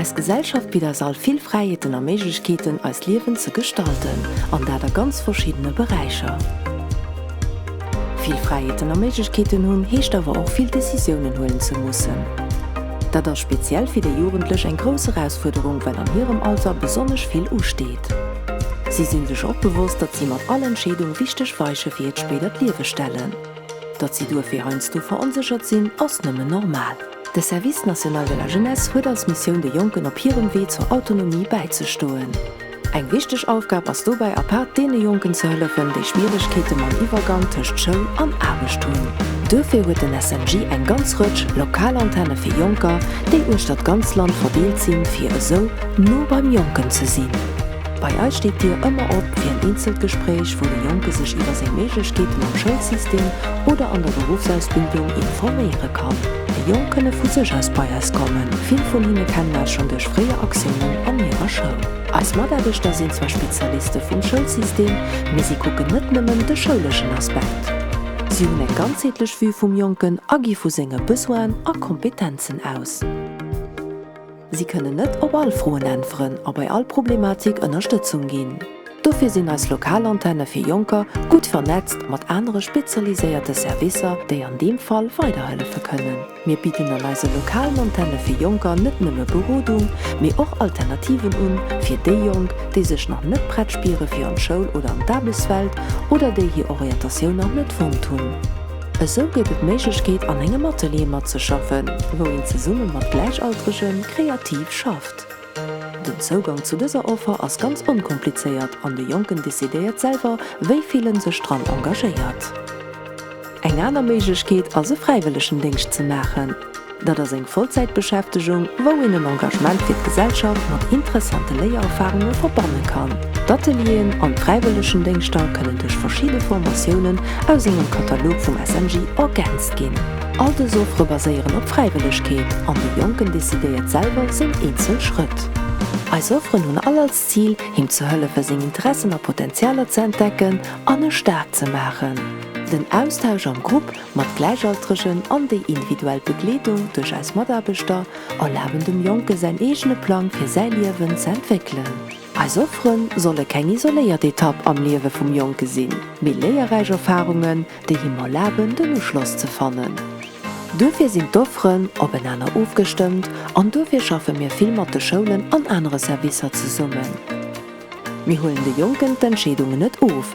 Eis Gesellschaft bitt eis all vill Fräiheeten a Méiglechkeeten, eist Liewen ze gestalten, an dat a ganz verschiddene Beräicher. Vill Fräiheeten a Méiglechkeeten hunn, heescht awer och vill Decisiounen huelen ze mussen. Dat ass speziell fir déi Jugendlech eng grouss Erausfuerderung, well an hirem Alter besonnesch vill usteet. Si si sech och bewosst, datt si mat all Entscheedung wichteg Weiche fir hiert spéidert Liewe stellen. Datt si duerfir heiansdo veronséchert sinn, ass nëmmen normal. De Service National de la Jeunesse huet als Missioun de Jonken op hirem Wee zur Autonomie bäizestoen. Eng wichteg Aufgab ass dobäi apaart deene Jonken ze hëllefen, déi Schwieregkeete mam Iwwergang tëscht Schoul an Aarbecht hunn. Duerfir huet den SNJ eng ganz Rëtsch lokal Antenne fir Jonker, déi uechter d'ganz Land verdeelt sinn, fir esou no beim Jonken ze sinn. Bei eis steet d'Dier ëmmer op fir en eenzelt Gespréich, wou de Jonke sech iwwer seng Méiglechkeeten am Schoulsystem oder an der Beruffsausbildung informéiere kann. Déi Jonk kënne vu sech aus bei eis kommen, vill vun hinne kennen eis schonn duerch fréier Aktiounen an hirer Schoul. Eis Mataarbechter sinn zwar Spezialiste vum Schoulsystem, mee si kucken net nëmmen de schouleschen Aspekt. Si hunn eng ganzheetlech Vue vum Jonken a gi vu senge Besoinen a Kompetenzen aus. Si kënnen net op all Froen äntweren a bei all Problematik Ënnerstëtzung ginn. Dofir sinn eis lokal Antenne fir Jonker gutt vernetzt mat anere spezialiséierte Servicer, déi an deem Fall weiderhëllefe kënnen. Mir bidden an eise lokalen Antenne fir Jonker net nëmme Berodung, mee och Alternativen un, fir déi Jonk, déi sech nach net prett spiere fir an d'Schoul oder an d'Aarbechtswelt oder déi hir Orientatioun nach net fonnt hunn. Esou gëtt et d'Méiglechkeet an engem Atelier matzeschaffen, wou een zesumme mat Gläichaltrege kreativ schafft. Den Zougang zu dëser Offer ass ganz onkomplizéiert an de Jonken decidéiert selwer, wéi vill en sech dran engagéiert. Eng aner Méiglechkeet ass e Fräiwëllegendéngscht ze maachen. Dat ass eng Vollzäitbeschäftegung, wou een en Engagement fir d'Gesellschaft mat interessante Léiererfarunge verbanne kann. D'Atelieren an d'Fräiwëllegendéngschter kënnen duerch verschidde Formatiounen aus engem Katalog vum SNJ ergänzt ginn. All dës Offere baséieren op Fräiwëllegkeet an de Jonken decidéiert selwer seng eenzel Schrëtt. Eis Offeren hunn all als Zil, him ze hëllefen, seng Interessen a Potenzialer ze entdecken an e staark ze maachen. Den Austausch am Grupp Mat Gläichaltregen an déi individuell Begleedung duerch eis Mataarbechter erlaben dem Jonke säin eegene Plang fir säi Liewen ze entwéckelen. Eis Offere solle keng isoléiert Etapp am Liewe vum Jonke sinn, mee léierräich Erfarungen, déi him erlaben den Uschloss ze fannen. Duerfir sinn d'Offeren openeener ofgestëmmt an duerfir schaffe mir vill mat de Schoulen an anere Servicer zesummen. Mir huelen de Jonken d'Entscheedungen net of.